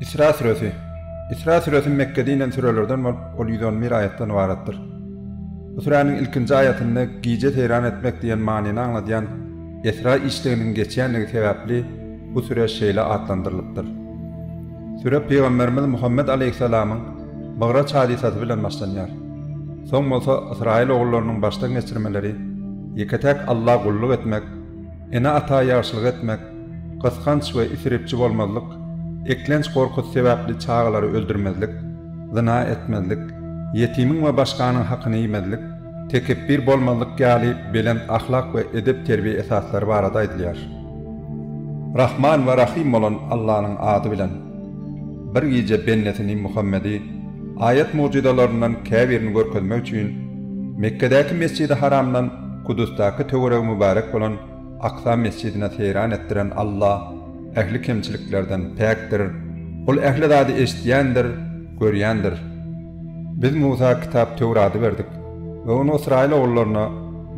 Isra süresi. Isra süresi Mekgede inen sürelerden bolup, ol ýüz on bir aýatdan ybaratdyr. Bu süräniň ilkinji aýatynda gije seýran etmek diýen manyny aňladýan esra işliginiň geçýändigi sebäpli bu süre şeýle atlandyrylypdyr. Süre pygamberimiz Muhammet aleýhissalamyň Mygraç hadysasy bilen başlanýar. Soň bolsa ysraýyl ogullarynyň başdan geçirmeleri, ýeke-täk Alla gulluk etmek, Ene-ata ýagşylyk etmek, gysganç we isripçi bolmazlyk, eklenç gorkusy sebäpli çagalary öldürmezlik, zyna etmezlik, ýetimiň we başganyň hakyny iýmezlik, tekepbir bolmazlyk ýaly belent ahlak we edep-terbiýe esaslary barada aýdylýar. Rahman we Rahym bolan Allanyň ady bilen. Bir gije bennesini Muhammedi aýat-mugjyzalaryndan käbirini görkezmek üçin Mekgedäki Mesjidi Haramdan Kudusdaky töweregi mübärek bolan Aksa mesjidine seýran etdiren Alla ähli kemçiliklerden päkdir, Ol ähli zady eşidýändir, görýändir. Biz Musa kitap Töwrady berdik we ony ysraýyl ogullaryna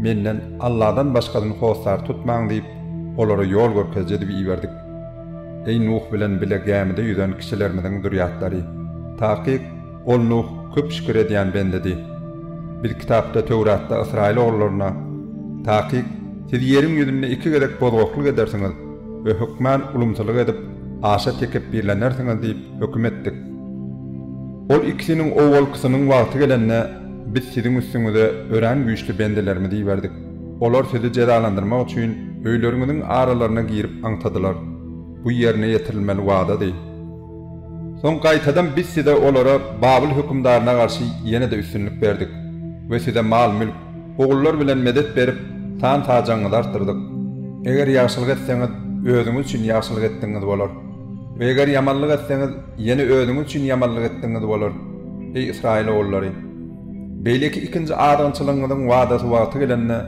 Menden Alladan başgasyny hossar tutmaň diýip, olara ýol görkeziji edip iberdik. Eý, Nuh bilen bile gämide ýüzen kişilerimiziň zürýatlary! Takyk, ol, Nuh, köp şükür edýän bendedi. Biz Kitapda, Töwratda, ysraýyl ogullaryna, Takyk, siz ýeriň ýüzünde iki gezek bozgaklyk edersiňiz we hökman ulumsylyk edip, aşa tekepbirlenersiňiz diýip höküm etdik. Ol ikisiniň owalkysynyň wagty gelende, Biz siziň üstüňize örän güýçli bendelerimizi iberdik. Olar sizi jezalandyrmak üçin öýleriňiziň aralaryna girip aňtadylar. Bu ýerine ýetirilmeli wadady. Soň gaýtadan biz size olara Babyl hökümdaryna garşy ýene-de üstünlik berdik we size mal-mülk, ogullar bilen medet berip, san-sajagyňyzy artdyrdyk. Eger ýagşylyk etseňiz, özüňiz üçin ýagşylyk etdigiňiz bolar we eger ýamanlyk etseňiz, ýene özüňiz üçin ýamanlyk etdigiňiz bolar, eý, ysraýyl ogullary! Beýleki ikinji adamçylygyňyzyň wadasy wagty gelende,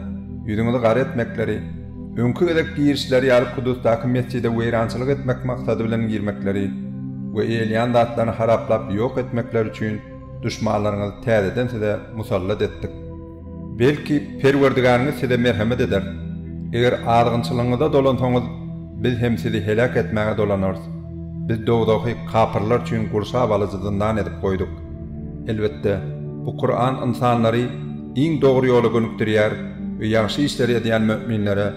ýüzüňizi gara etmekleri, öňki gezek girişleri ýaly Kudusdaky mesjide weýrançylyk etmek maksady bilen girmekleri we eýeleýän zatlaryny haraplap ýok etmekleri üçin duşmanlaryňyzy täzeden size musallat etdik. Belki, Perwerdigäriňiz size merhemet eder. Eger azgynçylygyňyza dolansaňyz, biz hem sizi heläk etmäge dolanarys. Biz dowzahy kapyrlar üçin gurşap alyjy zyndan edip goýduk. Elbetde, bu Kuran ynsanlary iň dogry ýola gönükdirýär we ýagşy işleri edýän möminlere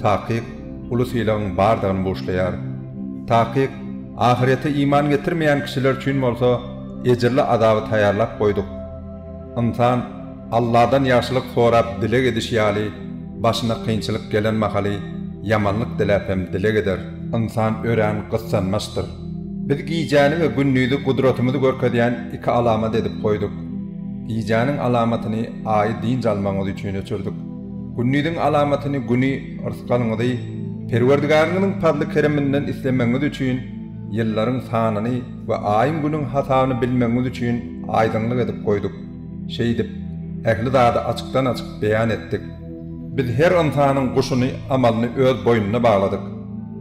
takyk uly sylagyň bardygyny buşlaýar. Takyk, ahyrete iman getirmeýän kişiler üçin bolsa ejirli azaby taýýarlap goýduk. Ynsan. Alladan ýagşylyk sorap dileg edişi ýaly, başyna kynçylyk gelen mahaly ýamanlyk diläp hem dileg eder. Ynsan örän gyssanmaçdyr. Biz gijäni we gündizi gudratymyzy görkezýän iki alamat edip goýduk. Gijäniň alamatyny Aýy dynç almagyňyz üçin öçürdik. Gündiziň alamatyny Güni rysgalyňyzy Perwerdigäriňiziň pazly-kereminden islemegiňiz üçin, ýyllaryň sanyny we Aýyň-Günüň hasabyny bilmegiňiz üçin aýdyňlyk edip goýduk. Şeýdip, ähli zady açykdan-açyk beýan etdik. Biz her ynsanyň guşuny, amalyny öz boýnuna bagladyk.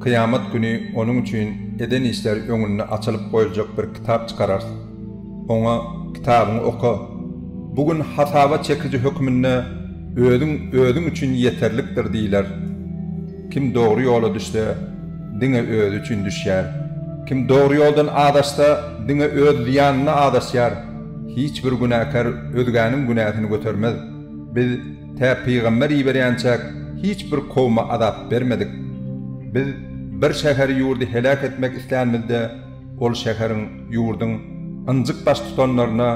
Kyýamat güni onuň üçin eden işleri öňünde açylyp goýuljak bir kitap çykararys. Oňa, Kitabyňy oka. Bu gün hasaba çekiji hökmünde özüň özüň üçin ýeterlikdir diýiler. Kim dogry ýola düşse, diňe özi üçin düşýär. Kim dogry ýoldan azaşsa, diňe öz zyýanyna azaşýar. Hiç bir günäkär özgäniň günäsini götermez. Biz tä pygamber iberýänçäk hiç bir kowma azap bermedik. Biz bir şäheri-ýurdy heläk etmek islänimizde, ol şäheriň, ýurduň ynjyk baştutanlaryna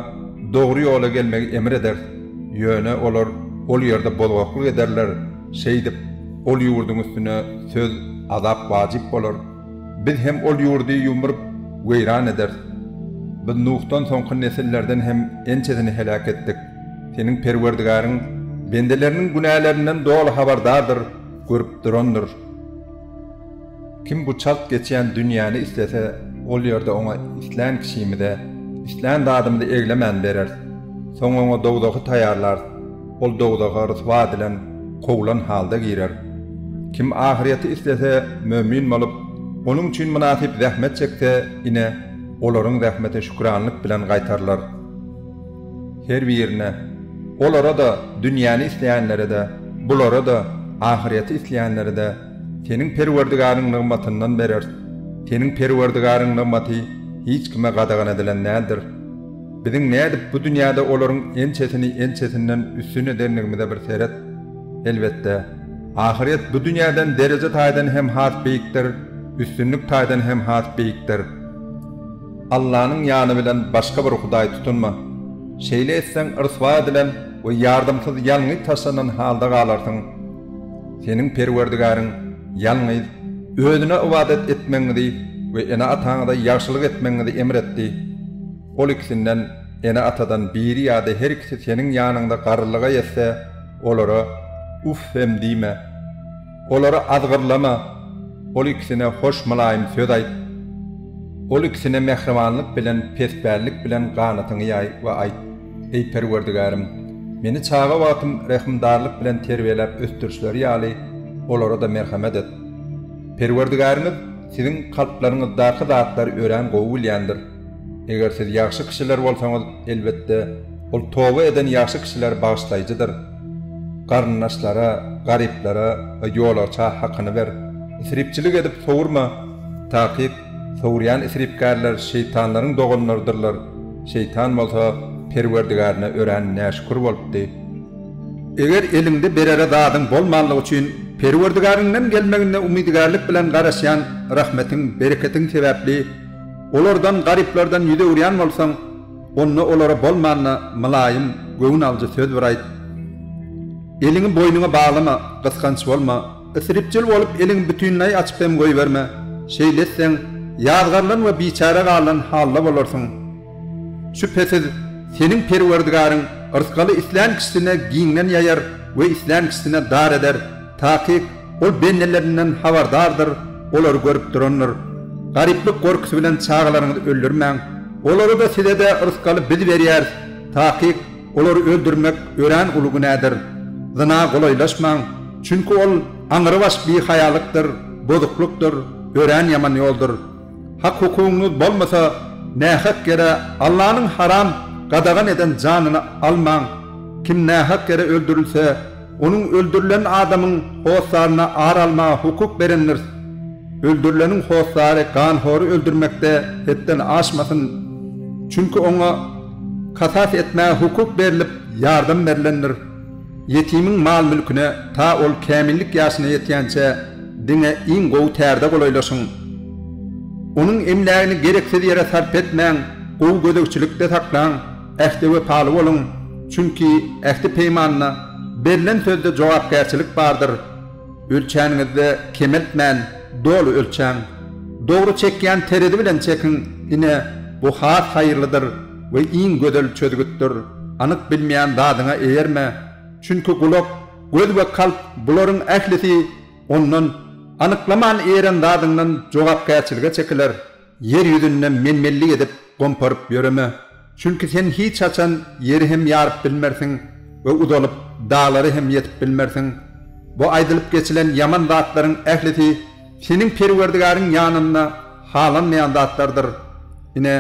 dogry ýola gelmegi emr ederis. Ýöne olar ol ýerde bozgaklyk ederler, şeýdip, ol ýurduň üstüne söz, azap wajyp bolar. Biz hem ol ýurdy ýumrup, weýran ederis. Biz Nuhdan soňky nesillerden hem ençesini heläk etdik. Seniň Perwerdigäriň bendeleriniň günälerinden doly habardardyr, görüp durandyr. Kim bu çalt geçýän dünýäni islese, ol ýerde oňa islän kişimize, islän zadymyzy eglemän bereris. Soň oňa dowzahy taýýarlarys. Ol dowzaha ryswa edilen, kowlan halda girer. Kim ahyrýeti islese, mömin bolup, onuň üçin mynasyp zähmet çekse, ine, olaryň zähmeti şükranlyk bilen gaýtarylar. Her birine, olara-da, dünýäni isleýänlere-de, bulara-da, ahyrýeti isleýänlere-de, Seniň Perwerdigaryňyň nygmatyndan bereris. Seniň Perwerdigaryňyň nygmaty hiç kime gadagan edilen däldir. Biziň nädip bu dünýäde olaryň ençesini ençesinden üstün edendigimize bir seret. Elbetde, ahyrýet bu dünýäden dereje taýdan hem has beýikdir, üstünlik taýdan hem has beýikdir. Allanyň ýany bilen başga bir hudaý tutunma. Şeýle etseň, ryswa edilen we ýardamsyz ýalňyz taşlanan halda galarsyň. Seniň Perwerdigäriň ýalňyz Özüne ybadat etmegiňizi we ene-ataňyza ýagşylyk etmegiňizi emr etdi. Ol ikisinden, ene-atadan, biri ýa-da her ikisi seniň ýanyňda garrylyga ýetse, olara Uff hem diýme. Olary azgyrlama. Ol ikisine hoş mylaýym söz aýt. Ol ikisine mähribanlyk bilen, pespällik bilen ganatyňy ýaý we aýt. Eý, Perwerdigärim! Meni çaga wagtym rehimdarlyk bilen terbiýeläp ösdürişleri ýaly, olara-da merhemet et. Perwerdigäriňiz siziň kalplaryňyzdaky zatlary örän gowy bilýändir. Eger siz ýagşy kişiler bolsaňyz, elbetde, Ol toba eden ýagşy kişileri bagyşlaýjydyr. Garyndaşlara, garyplara we ýolagça hakyny ber. Isripçilik edip sowurma. Takyk, Sowurýan isripgärler şeýtanlaryň doganlarydyrlar, şeýtan bolsa Perwerdigärine örän näşükür bolupdy. Eger eliňde berere zadyň bolmanlygy üçin Perwerdigäriňden gelmegine umydygärlik bilen garaşýan rahmetiň, bereketiň sebäpli olardan, garyplardan ýüz öwürýän bolsaň, onda olara bolmanda mylaýym, göwün alyjy söz bir aýt. Eliňi boýnuňa baglama, gysganç bolma. Isripjil bolup eliň bütinleý açyp hem goýberme, şeýle etseň, ýazgarylan we biçäre galylan halda bolarsyň. Şübhesiz, seniň Perwerdigaryň yrsgaly islän kişisine giňden ýaýar we islän kişisine dar eder, takyk Ol bendelerinden habardardyr, olary görüp durandyr. Garyplyk gorkusy bilen çagalaryňyzy öldürmäň. Olara-da, size-de yrsgaly biz berýäris, takyk, Olary öldürmek örän uly günädir. Zyna golaýlaşmaň, çünki ol aňrybaş bihaýalykdyr, bozuklykdyr, örän ýaman ýoldur. Hak-hukugyňyz bolmasa, nähak ýere Allanyň haram, gadagan eden janyny almaň. Kim nähak ýere öldürilse, Onuň öldürilen adamyň hossaryna ar almaga hukuk berendiris. Öldürileniň hossary ganhory öldürmekde hetden aşmasyn, çünki oňa kasas etmäge hukuk berlip, ýardam berlendir. Ýetimiň mal-mülküne ta ol kämillik ýaşyna ýetýänçä diňe iň gowy tärde golaýlaşyň. Onuň emlägini gereksiz ýere sarp etmäň, gowy gözegçilikde saklaň. Ähte wepaly boluň, çünki ähti-peýmanda berlen sözde jogapkärçilik bardyr. Ölçäniňizde kemeltmän, doly ölçäň. Dogry çekýän terezi bilen çekiň, ine, bu has haýyrlydyr we iň gözel çözgütdir. Anyk bilmeýän zadyňa eýerme, çünki gulak, göz we kalp, bularyň ählisi ondan, anyklaman eýeren zadyňdan jogapkärçilige çekiler. Ýer ýüzünde men-menlik edip gomparyp ýöreme, çünki sen hiç haçan ýeri hem ýaryp bilmersiň we uzalyp, daglara hem ýetip bilmersiň. Bu aýdylyp geçilen ýaman zatlaryň ählisi seniň Perwerdigäriň ýanynda halanmaýan zatlardyr. Ine,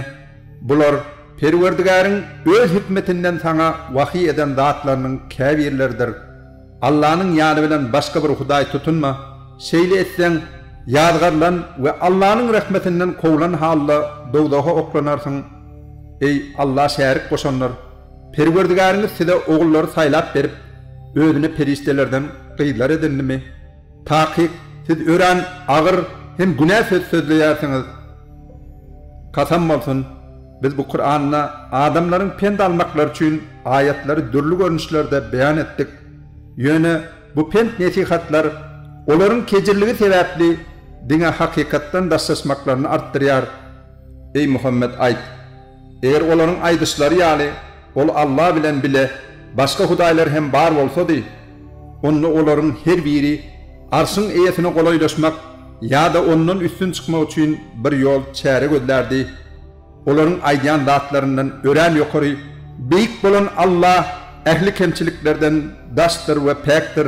bular Perwerdigäriň öz hikmetinden saňa wahyý eden zatlarynyň käbirleridir. Allanyň ýany bilen başga bir hudaý tutunma, şeýle etseň, ýazgarylan we Allanyň rehmetinden kowlan halda dowzaha oklanarsyň. Eý, Alla şärik goşanlar! Perwerdigäriňiz size ogullary saýlap berip, Özüne perişdelerden gyzlar edindimi? Takyk, siz örän agyr hem günä söz sözleýärsiňiz. Kasam bolsun! Biz bu Kuranda adamlaryň pent almaklary üçin aýatlary dürli görnüşlerde beýan etdik. Ýöne bu pent-nesihatlar olaryň kejirligi sebäpli diňe hakykatdan daşlaşmaklaryny artdyrýar. Eý Muhammet aýt, Eger olaryň aýdyşlary ýaly ol Alla bilen bile başga hudaýlar hem bar bolsady, onda olaryň her biri Arşyň Eýesine golaýlaşmak ýa-da Ondan üstün çykmak üçin bir ýol, çäre gözlärdi. Olaryň aýdýan zatlaryndan örän ýokary, beýik bolan Alla ähli kemçiliklerden daşdyr we päkdir.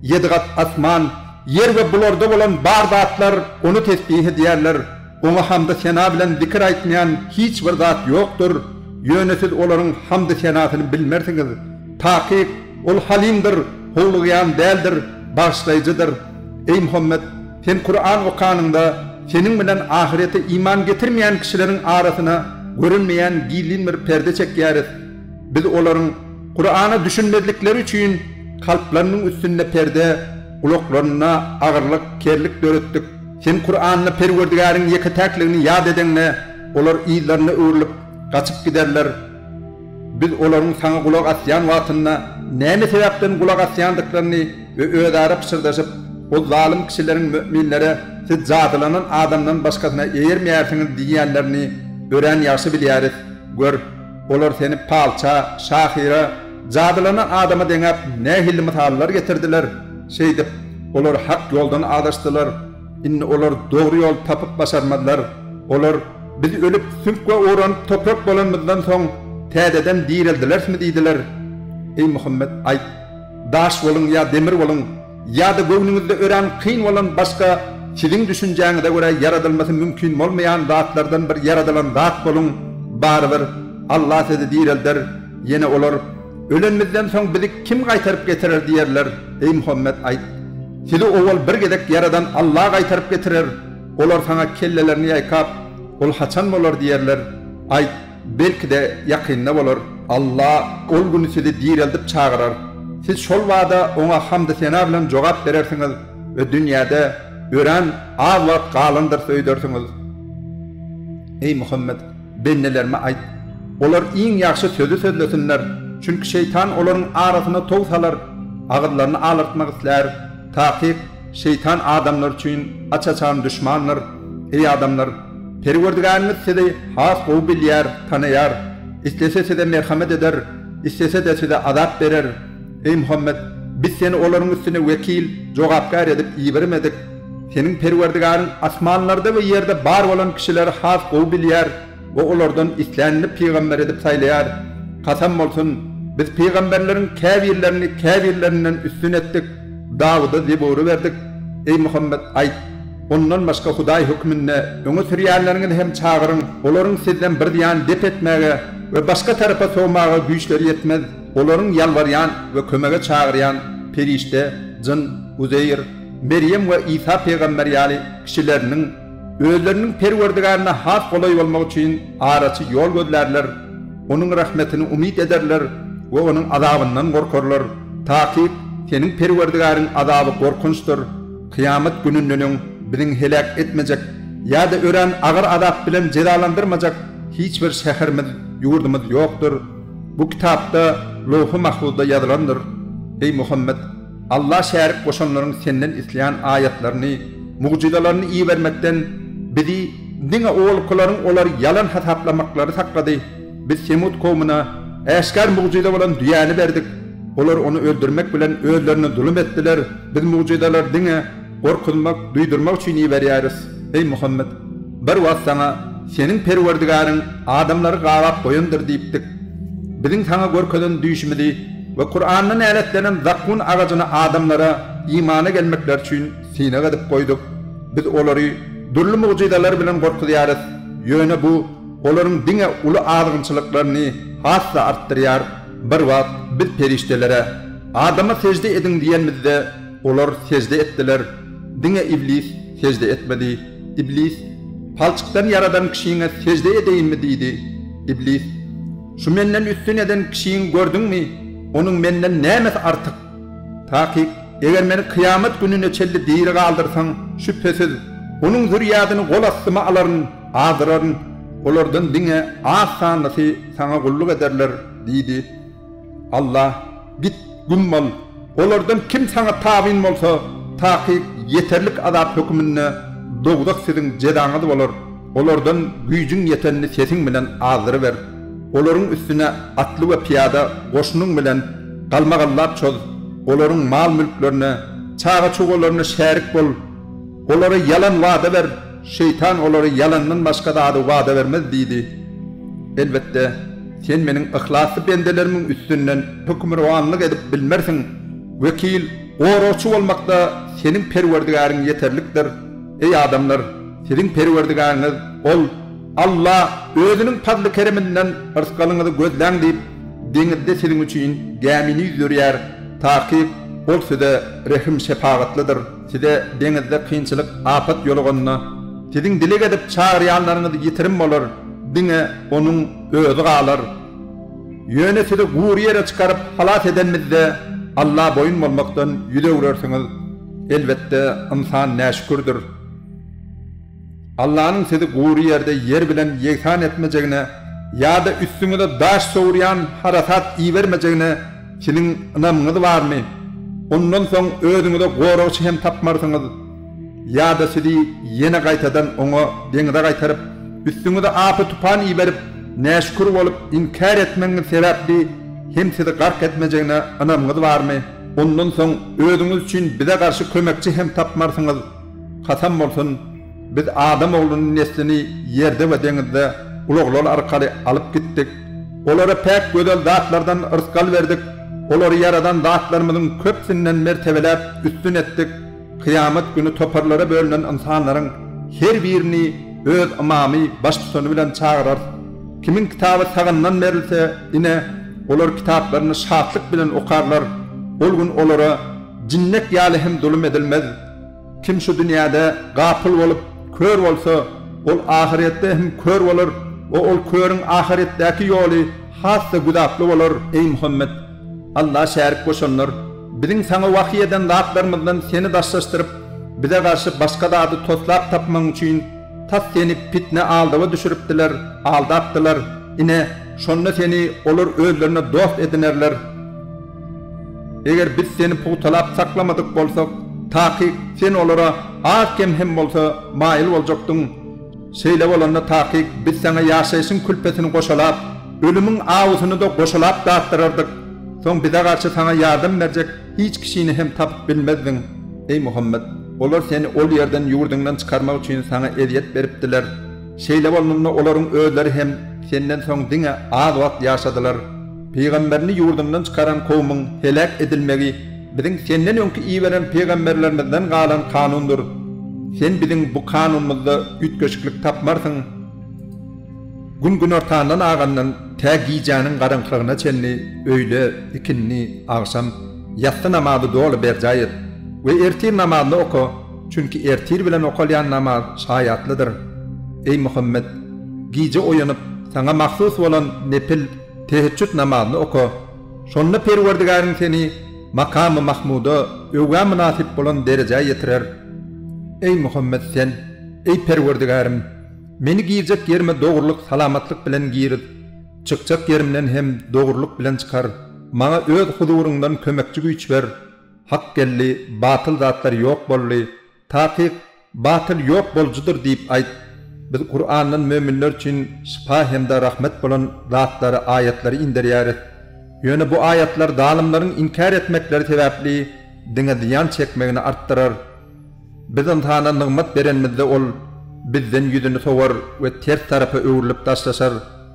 Ýedi gat asman, ýer we bularda bolan bar zatlar Ony tesbih edýärler. Oňa hamdy sena bilen zikir aýtmaýan hiç bir zat ýokdur, ýöne siz olaryň hamdy senasyny bilmersiňiz. Takyk, Ol Halymdyr, howlugýan däldir, bagyşlaýjydyr. Eý Muhammet! Sen Kuran okanyňda, seniň bilen ahyrete iman getirmeýän kişileriň arasyna görünmeýän gizlin bir perde çekýäris. Biz olaryň, Kurana düşünmezlikleri üçin, kalplarynyň üstünde perde, gulaklaryna agyrlyk, kerlik döretdik. Sen Kuranda Perwerdigäriň ýeke-täkligini ýat edeňde, olar yzlaryna öwrülip, gaçyp giderler. Biz olaryň Saňa gulak asýan wagtynda näme sebäpden gulak asýandyklaryny we özara pyşyrdaşyp, ol zalym kişileriň möminlere Siz jadylanan adamdan başgasyna eýermeýärsiňiz diýýänlerini örän ýagşy bilýäris. Gör, olar Seni palça, şahyra, Jadylana adama deňäp nähilli mysallar getirdiler, şeýdip, olar hak ýoldan azaşdylar. Indi olar dogry ýol tapyp başarmazlar. Olar, Biz ölüp, süňk we oranyp toprak bolanymyzdan soň, täzeden direldilersmi diýdiler. Eý Muhammet, aýt, Daş boluň ýa demir boluň! Ýa-da göwnüňizde örän kyn bolan başga siziň düşünjäňize görä ýaradylmasy mümkin bolmaýan zatlardan bir ýaradylan zat boluň, barybir Alla sizi direlder, ýene olar, Ölenimizden soň bizi kim gaýtaryp getirer diýerler, eý Muhammet aýt, Sizi owal bir gezek ýaradan Alla gaýtaryp getirer, olar saňa kellelerini ýaýkap, Ol haçan bolar diýerler, aýt, Belki-de, ýakynda bolar, Alla ol gün sizi direldip çagyrar. Siz şol bada Oňa hamdy-sena bilen jogap berersiňiz we dünýäde örän az wagt galandyr söýdersiňiz. Eý Muhammet! Bendelerime aýt, olar iň ýagşy sözi sözlesinler, çünki şeýtan olaryň arasyna tow salar, agyzlaryny alartmak islär, takyk, Şeýtan adamlar üçin aç-açan duşmandyr. Eý adamlar! Perwerdigäriňiz sizi has gowy bilýär, tanaýar. Islese size merhamet eder, islese-de size azap berer. Eý Muhammet! Biz seni olaryň üstüne wekil, jogapkär edip ibermedik. Seniň Perwerdigäriň asmanlarda we ýerde bar bolan kişileri has gowy bilýär. O olardan islänini pygamber edip saýlaýar. Kasam bolsun, biz pygamberleriň käbirlerini käbirlerinden üstün etdik, Dawuda Zebury berdik. Eý, Muhammet, aýt, Ondan başga Hudaý hökmünde öňe sürýänleriňizi hem çagyryň, olaryň sizden bir zyýan dep etmäge we başga tarapa sowmaga güýçleri ýetmez, olaryň ýalbarýan we kömege çagyrýan perişde, jyn, Uzeýr, Merýem we Isa pygamber ýaly kişileriniň, Özleriniň Perwerdigärine has golaý bolmak üçin araçy ýol gözlärler, Onuň rahmetini umyt ederler we Onuň azabyndan gorkarlar, takyk seniň Perwerdigäriň azaby gorkunçdyr, kyýamat gününden öň Biziň heläk etmejek ýa-da örän agyr azap bilen jezalandyrmajak hiç bir şäherimiz, ýurdumyz ýokdur. Bu kitapda, Lowhy Mahfuzda ýazylandyr. Eý Muhammet! Allah şärik goşanlaryň Senden isleýän aýatlaryny, mugjyzalaryny ibermekden bizi diňe owalkylaryň olary ýalan hasaplamaklary saklady. Biz Semut kowmuna äşgär mugjyza bolan düýäni berdik. Olar ony öldürmek bilen özlerine zulum etdiler. Biz mugjyzalary diňe gorkuzmak, duýdurmak üçin iberýäris. Eý Muhammet! Bir wagt saňa, Seniň Perwerdigäriň adamlary gabap goýandyr diýipdik. Biziň saňa görkezen düýşümizi we Kuranda näletlenen zakgun agajyny adamlara imana gelmekleri üçin synag edip goýduk. Biz olary dürli mugjyzalar bilen gorkuzýarys, ýöne bu olaryň diňe uly azgynçylyklaryny has-da artdyrýar. Bir wagt Biz perişdelere, Adama sežde ediň diýenimizde, Olar sežde etdiler, diňe Iblis sežde etmedi. Iblis, Palçykdan ýaradan kişiňe sežde edeýinmi? diýdi. Iblis, Şu menden üstün eden kişiňi gördüňmi? Onuň menden nämesi artyk? Takyk, eger meni kyýamat gününe çenli diri galdyrsaň, şübhesiz, onuň zürýadyny gol astyma alaryn, azdyraryn. Olardan diňe az sanlysy Saňa gulluk ederler diýdi. Alla, git, güm bol! Olardan kim saňa tabyn bolsa, takyk ýeterlik azap höküminde dowzah siziň jezaňyz bolar, olardan güýjüň ýetenini sesiň bilen azdyryber. Olaryň üstüne atly we pyýada goşunyň bilen galmagallap çoz, olaryň mal-mülklerine, çaga-çugalaryna şärik bol, olara ýalan wada ber. Şeýtan olary ýalandan başga zady wada bermez diýdi. Elbetde, sen Meniň yhlasly bendelerimiň üstünden hökmürowanlyk edip bilmersiň, wekil, goragçy bolmakda seniň Perwerdigäriň ýeterlikdir. Eý, adamlar! Siziň Perwerdigäriňiz, Ol, Alla, Özüniň pazly-kereminden yrsgalyňyzy gözläň diýip, deňizde siziň üçin gämini ýüzdirýär, takyk, Ol size rehim-şepagatlydyr. Size deňizde kynçylyk, apat ýoluganda, siziň dileg edip çagyrýanlaryňyz ýitirim bolar, diňe Onuň Özi galar. Ýöne sizi gury ýere çykaryp halas edenimizde, Alla boýun bolmakdan ýüz öwrersiňiz. Elbetde, ynsan näşükürdir. Allanyň sizi gury ýerde ýer bilen ýegsan etmejegine ýa-da üstüňize daş sowurýan harasat ibermejegine siziň ynamyňyz barmy? Ondan soň özüňize goragçy hem tapmarsyňyz. Ýa-da sizi ýene gaýtadan Oňa deňze gaýtaryp, üstüňize apy-tupan iberip, näşükür bolup, inkär etmegiňiz sebäpli hem sizi gark etmejegine ynamyňyz barmy? Ondan soň özüňiz üçin bize garşy kömekçi hem tapmarsyňyz. Kasam bolsun, biz adam oglunyň neslini ýerde we deňizde ulaglar arkaly alyp gitdik. Olara päk gözel zatlardan yrsgal berdik, olary ýaradan Zatlarymyzyň köpüsinden mertebeläp üstün etdik. Kyýamat güni toparlara bölünen ynsanlaryň her birini öz ymamy, baştutany bilen çagyrarys. Kimiň kitaby sagandan berilse, ine, olar kitaplaryny şatlyk bilen okarlar. Ol gün olara jinnek ýaly hem zulum edilmez. Kim şu dünýäde gapyl bolup, kör bolsa, ol ahyretde hem kör bolar we ol körüň ahyretdäki ýoly has-da güzaply bolar. Eý Muhammet! Alla şärik goşanlar, Biziň saňa wahyý eden zatlarymyzdan seni daşlaşdyryp, bize garşy başga zady toslap tapmagyň üçin, tas seni pitne-aldawa düşüripdiler, aldapdylar. Ine, şonda seni olar özlerine dost edinerler. Eger biz seni pugtalap saklamadyk bolsak, takyk, sen olara az-kem hem bolsa maýyl boljakdyň. Şeýle bolanda, takyk, biz saňa ýaşaýşyň külpetini goşalap, ölümiň awusyny-da goşalap datdyrardyk. Soň bize garşy saňa ýardam berjek hiç kişini hem tapyp bilmezdiň. Eý Muhammet! Olar seni ol ýerden ýurduňdan çykarmak üçin saňa ezýet beripdiler. Şeýle bolnunda olaryň özleri hem senden soň diňe az wagt ýaşadylar. Pygamberini ýurdundan çykaran kowmyň heläk edilmegi biziň senden öňki iberen pygamberlerimizden galan kanundyr. Sen biziň bu kanunymyzda üýtgeşiklik tapmarsyň. Gün günortandan agandan tä gijäniň garaňkylygyna çenli öýle, ikindi, agşam, ýassy namazy doly berjaý et we ertir namazyny oka, çünki ertir bilen okalýan namaz şaýatlydyr. Eý Muhammet! Gije oýanyp, saňa mahsus bolan nepil, Teheçjüt namazyny oka. Şonda Perwerdigäriň seni Makamy Mahmuda öwgä mynasyp bolan derejä ýetirer. Eý, Muhammet, sen, Eý, Perwerdigärim! Meni girjek ýerime dogrulyk, salamatlyk bilen girit, çykjak ýerimden hem dogrulyk bilen çykar, maňa Öz huzuryňdan kömekçi güýç ber, hak geldi, batyl zatlar ýok boldy, Takyk, batyl ýok bolujydyr diýip aýt. Biz Kurandan möminler üçin şypa hem-de rahmet bolan zatlary, aýatlary inderýäris. Ýöne bu aýatlar zalymlaryň inkär etmekleri sebäpli diňe zyýan çekmegini artdyrar. Biz ynsana nygmat berenimizde ol Bizden ýüzüni sowar we ters tarapa öwrülip daşlaşar.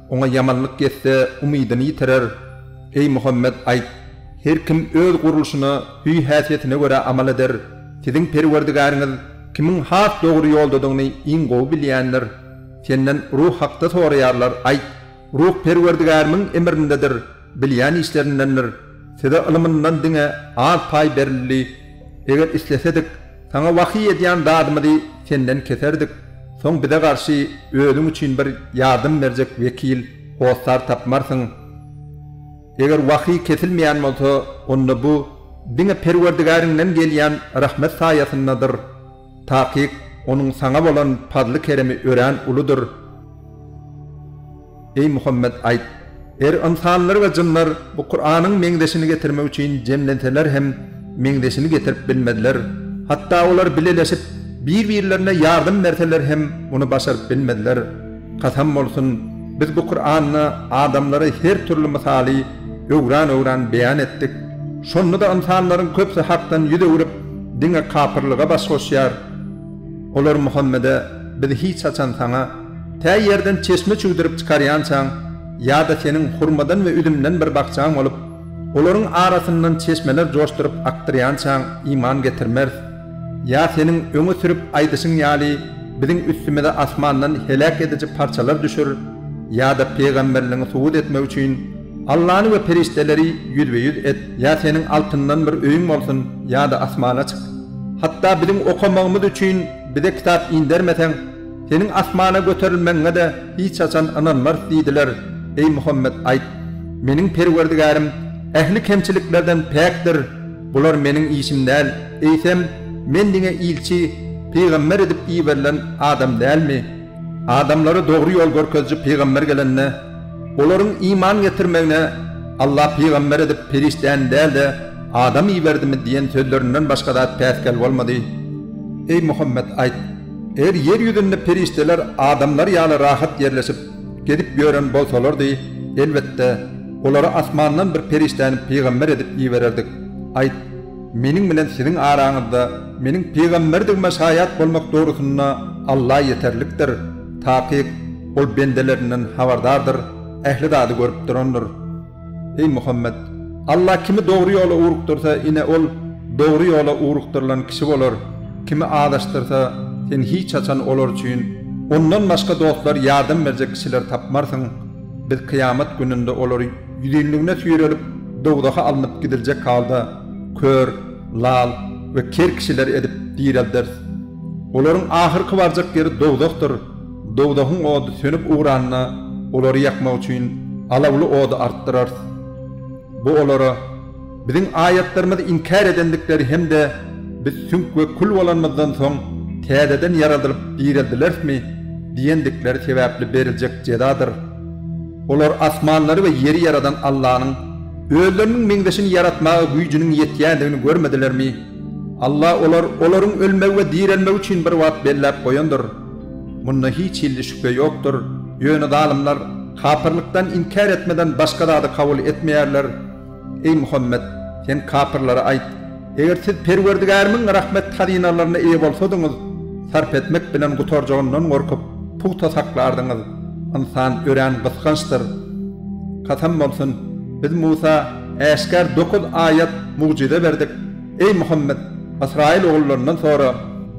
Oňa ýamanlyk ýetse, umydyny ýitirer. Eý, Muhammet, aýt, Her kim öz gurluşyna, hüý-häsiýetine görä amal eder. Siziň Perwerdigäriňiz kimiň has dogry ýoldadygyny iň gowy bilýändir. Senden ruh hakda soraýarlar, aýt, Ruh Perwerdigärimiň emrindedir. Bilýän işlerindendir. Size ylymyndan diňe az paý berildi. Eger islesedik, saňa wahyý edýän zadymyzy senden keserdik. Soň bize garşy özüň üçin bir ýardym berjek wekil, hossar tapmarsyň. Eger wahyý kesilmeýän bolsa, onda bu diňe Perwerdigäriňden gelýän rahmet saýasyndadyr. Takyk, Onuň saňa bolan pazly-keremi örän uludyr. Eý, Muhammet, aýt, Eger ynsanlar we jynlar bu Kuranyň meňzeşini getirmek üçin jemlenseler hem, meňzeşini getirip bilmezler. Hatda olar bileleşip, bir-birlerine ýardam berseler hem, muny başaryp bilmezler. Kasam bolsun, biz bu Kuranda adamlara her türli mysaly öwran-öwran beýan etdik. Şonda-da ynsanlaryň köpsi Hakdan ýüz öwrüp, diňe kapyrlyga baş goşýar. Olar Muhammede, Biz hiç haçan saňa, tä ýerden çeşme çüwdürip çykarýançaň, ýa-da seniň hurmadan we üzümden bir bakjaň bolup, olaryň arasyndan çeşmeler joşduryp akdyrýançaň iman getirmeris. Ýa seniň öňe sürüp aýdyşyň ýaly biziň üstümize asmandan heläk ediji parçalar düşer, ýa-da pygamberligiňi subut etmek üçin Allany we perişdeleri ýüzbe-ýüz et, ýa seniň altyndan bir öýüň bolsun, ýa-da asmana çyk. Hatda biziň okamagymyz üçin bize kitap indermeseň, seniň asmana göterilmegiňe-de hiç haçan ynanmarys diýdiler, eý Muhammet aýt, Meniň Perwerdigärim ähli kemçiliklerden päkdir, Bular Meniň işim däl, eýsem, Men diňe ilçi, pygamber edip iberilen adam dälmi? Adamlara dogry ýol görkeziji pygamber gelende, olaryň iman getirmegine Allah pygamber edip perişdäni däl-de, adam iberdimi diýen sözlerinden başga zat päsgel bolmady. Eý, Muhammet, aýt, Eger ýer ýüzünde perişdeler adamlar ýaly rahat ýerleşip, Gezip ýören bolsalardy, elbetde, olara asmandan bir perişdäni pygamber edip ibererdik. Aýt, Meniň bilen siziň araňyzda Meniň pygamberdigime şaýat bolmak dogrusynda Alla ýeterlikdir. Takyk, Ol bendelerinden habardardyr, ähli zady görüp durandyr. Eý Muhammet! Allah kimi dogry ýola ugrukdyrsa, ine, ol dogry ýola ugrukdyrylan kişi bolar, kimi azaşdyrsa, sen hiç haçan olar üçin Ondan başga dostlar, ýardam berjek kişiler tapmarsyň. Biz kyýamat gününde olary ýüzinligine süýrelip, dowzaha alnyp gidiljek halda, kör, lal we ker kişiler edip direlderis. Olaryň ahyrky barjak ýeri dowzahdyr. Dowzahyň ody sönüp ugranda, olary ýakmak üçin alawly ody artdyrarys. Bu olara Biziň aýatlarymyzy inkär edendikleri hem-de Biz süňk we kül bolanymyzdan soň täzeden ýaradylyp direldilerismi? diýendikleri sebäpli beriljek jezadyr. Olar asmanlary we ýeri ýaradan Allanyň özleriniň meňzeşini ýaratmaga güýjüniň ýetýändigini görmedilermi? Alla olar, olaryň ölmegi we direlmegi üçin bir wagt belläp goýandyr. Munda hiç hilli şübhe ýokdur, ýöne zalymlar kapyrlykdan inkär etmeden başga zady kabul etmeýärler. Eý Muhammet! Sen kapyrlara aýt, Eger siz Perwerdigärimiň rahmet hazynalaryna eýe bolsadyňyz, sarp etmek bilen gutarjagyndan gorkup, pugta saklardyňyz. Ynsan örän gysgançdyr. Kasam bolsun! Biz Musa äşgär dokuz aýat, mugjyza, berdik. Eý, Muhammet! Ysraýyl ogullaryndan sora.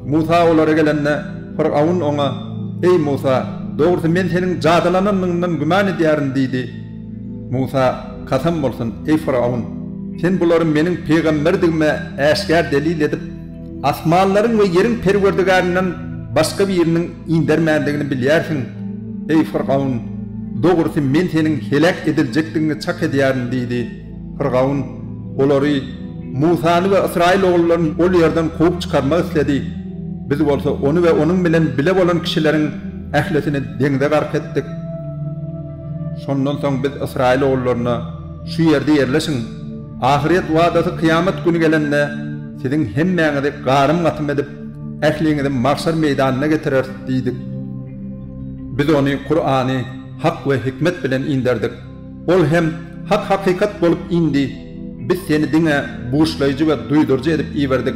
Musa olara gelende, Fyrgawn oňa, Eý, Musa! Dogrusy, men seniň jadylananyňdan güman edýärin diýdi. Musa, Kasam bolsun, eý, Fyrgawn! Sen bulary meniň pygamberdigime äşgär delil edip, asmanlaryň we ýeriň Perwerdigärinden başga biriniň indermändigini bilýärsiň. Eý, Fyrgawn! Dogrusy, men seniň heläk ediljekdigiňi çak edýärin diýdi. Fyrgaun olary, Musany we ysraýyl ogullaryny ol ýerden kowup çykarmak isledi, biz bolsa ony we onuň bilen bile bolan kişileriň ählisini deňze gark etdik. Şondan soň biz ysraýyl ogullaryna, Şu ýerde ýerleşiň, ahyret wadasy kyýamat güni gelende, siziň hemmäňizi garym-gatym edip, ähliňizi magşar meýdanyna getireris diýdik. Biz ony, Kurany, hak we hikmet bilen inderdik. Ol hem hak hakykat bolup indi, biz seni diňe buşlaýjy we duýduryjy edip iberdik.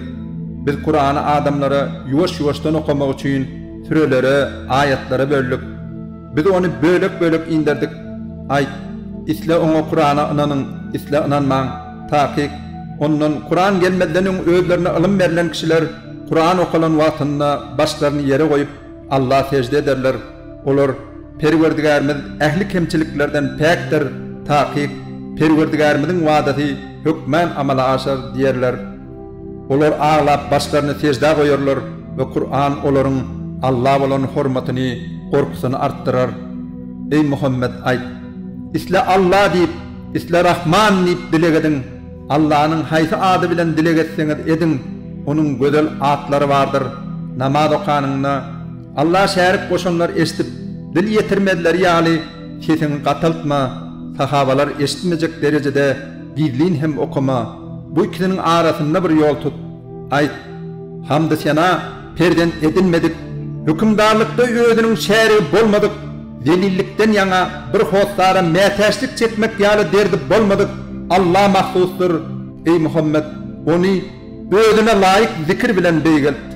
Biz Kurany adamlara ýuwaş-ýuwaşdan okamak üçin sürelere, aýatlara böldük. Biz ony bölek-bölek inderdik. Aýt, isle oňa Kurana ynanyň, isle ynanmaň. Takyk, ondan, Kuran gelmezden öň özlerine ylym berlen kişiler Kuran okalan wagtynda başlaryny ýere goýup, Alla sežde ederler. Olar, Perwerdigärimiz ähli kemçiliklerden päkdir, takyk, Perwerdigärimiziň wadasy hökmän amala aşar diýerler. Olar aglap başlaryny seždä goýarlar we Kur'an olaryň Alla bolan hormatyny, gorkusyny artdyrar. Eý Muhammet, aýt, Isle Alla diýip, isle Rahman diýip dileg ediň. Allanyň haýsy ady bilen dileg etseňiz ediň, Onuň gözel atlary bardyr. Namaz okanyňda, Alla şärik goşanlar eşidip, dil ýetirmezleri ýaly, sesiňi gataltma, sahabalar eşitmejek derejede gizlin hem okama. Bu ikisiniň arasynda bir ýol tut. Aýt, Hamdy-sena perzent edinmedik, hökümdarlykda özüniň şärigi bolmadyk, zelillikden ýaňa bir hossara mätäçlik çekmek ýaly derdi bolmadyk Alla mahsusdyr, eý Muhammet, Ony Özüne laýyk zikir bilen beýgelt.